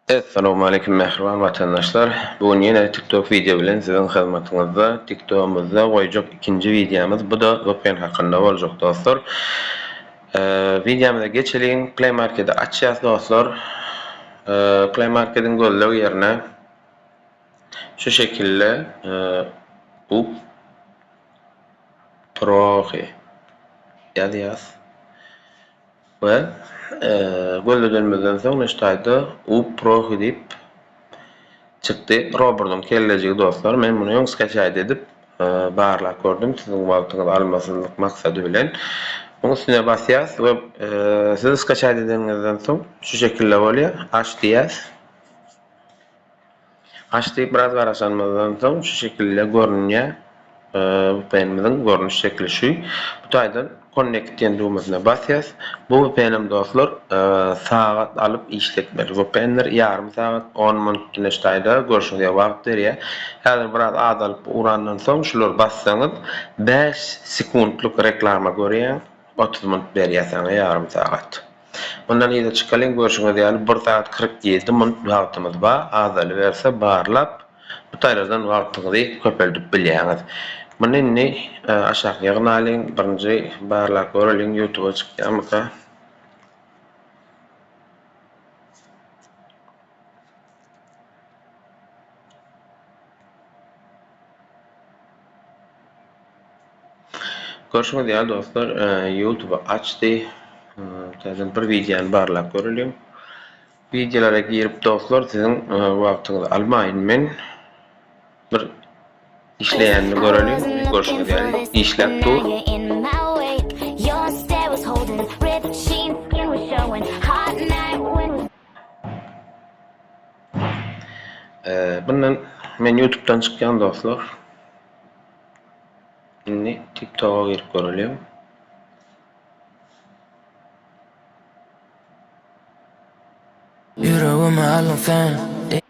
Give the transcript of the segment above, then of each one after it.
Essalowmaleýkim mähriban watandaşlar! Bu gün ýene TikTok wideo bilen siziň hyzmatyňyzda. TikTogymyzda goýjak ikinji wideomyz bu-da VPN hakynda boljak dostlar. Wideomyza geçeliň. Play Markedi açýas dostlar. Play Markediň gözleg ýerine şu şekilde Up Proxy ýazýas. We gözledenimizden soň Neştaýda Up prohi diýip çykdy. Robertyň kellejigi dostlar. Men muny öň skaçaýt edip barlap gördüm siziň wagtyňyzy almasyzlyk maksady bilen. Muň üstüne basýas we siz skaçaýt edeniňizden soň şu şekilde bolýar. Aç diýýäs. Gaş diýip biraz garaşanymyzdan soň şu şekilde görünýä vpnimiziň görnüş şekli şu bu taýdan connect diýen düwmesine basýas bu vpnem dostlar sagat alyp işletmeli vpnler ýarym sagat on minut neşt taýda görşüňizýa wagt berýä häzir biraz azalyp urandan soň şulary bassaňyz bäş sekuntlyk reklama görýäň. Otuz munt berýär saňa ýarym sagat. Mundan yza çykalyň, görşüňiz ýaly bir sagat kyrk ýedi munt wagtymyz bar, azalyberse barlap bu taýlardan wagtyňyzy köpeldip bilýäňiz. Muny indi aşak ýygnalyň, birinji barlap göreliň ýutuba çykýarmyka. Görşüňiz ýaly dostlar, e, YouTube açdy. Täzeden bir wideony barlap göreliň. Wideolara girip dostlar, siziň e, wagtyňyzy almaýyn men. Bir işleýänini göreliň. Görşüňiz ýaly işläp dur. Ee, bundan men YouTube'dan çykýan dostlar. Indi TikTok'a girip göreliň. Ýüregimi aldyň sen.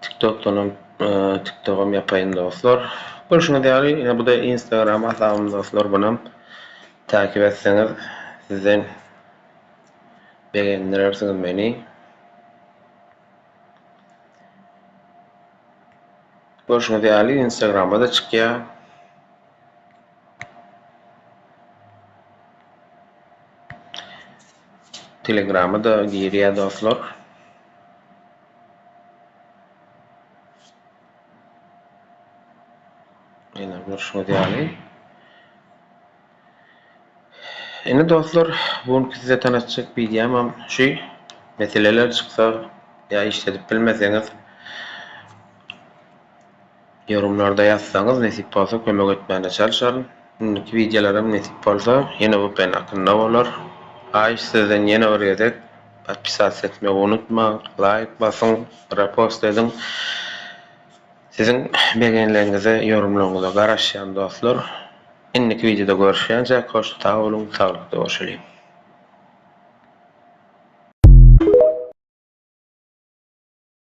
Tiktokdanam Tiktogam ýapaýyn dostlar. Görşüňiz ýaly ýene bu-da Instagram hasabym dostlar bunam takip etseňiz sizden begendirersiňiz meni. Görşüňiz ýaly Instagrama-da çykýar. Telegrama da girýä dostlar. Ýene görşüňiz ýaly. Indi dostlar, bu günki size tanatjak wideomam şu. Meseleler çyksa ýa işledip bilmeseňiz Ýorumlarda ýazsaňyz nesip bolsa kömek etmäne çalşaryn. Indiki wideolaram nesip bolsa ýene vpn hakynda bolar. Haýyş sizden ýene bir gezek podpisasiýa etmegi unutmaň, laýk basyň, repost ediň. Siziň begenleriňize, ýorumlaryňyza garaşýan dostlar. Indiki wideoda görüşýänçäk hoş sag boluň, saglykda görşeliň.